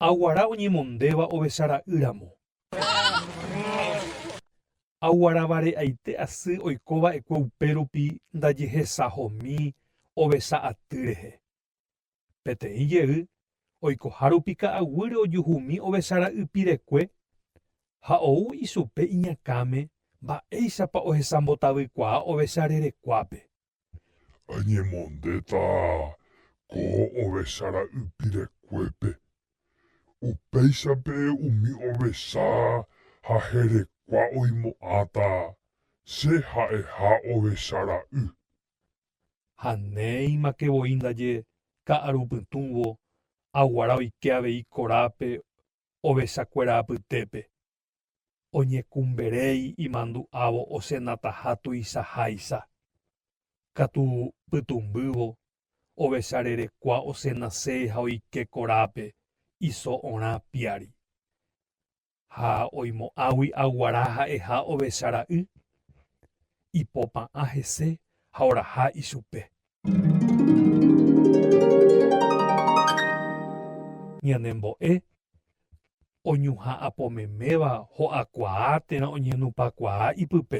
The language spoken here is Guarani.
Aguara oñemondéva ovecha ra'y ramo. Aguaravare aite asy oiko va'ekue upérupi ndajehesahomi ovecha aty rehe. Peteĩ jey oikoha rupi ka'aguýre ojuhumi ovecha ra'y pirekue ha ou ichupe iñakãme mba'éichapa ohesambotavykuaa ovecha rerekuápe. Añemondéta ko ovecha ra'y pirekuépe. Upéichape umi ovecha ha herekua oimo'ãta che ha'eha ovecha ra'y. ha néimake voi ndaje ka'aru pytũvo aguara oike avei korápe ovechakuéra apytépe, oñekumberéi imandu'ávo osenataha tuichaháicha, katu pytũmbývo ovecha rerekua osenasé ha oike korápe iso orã piári. Ha oimo'ãgui aguara ha'eha ovecha ra'y, ipopa'ã hese ha oraha ichupe. Ñanembo'e oñuhã apo meméva ho'akuaa térã oñenupakuaa ipype.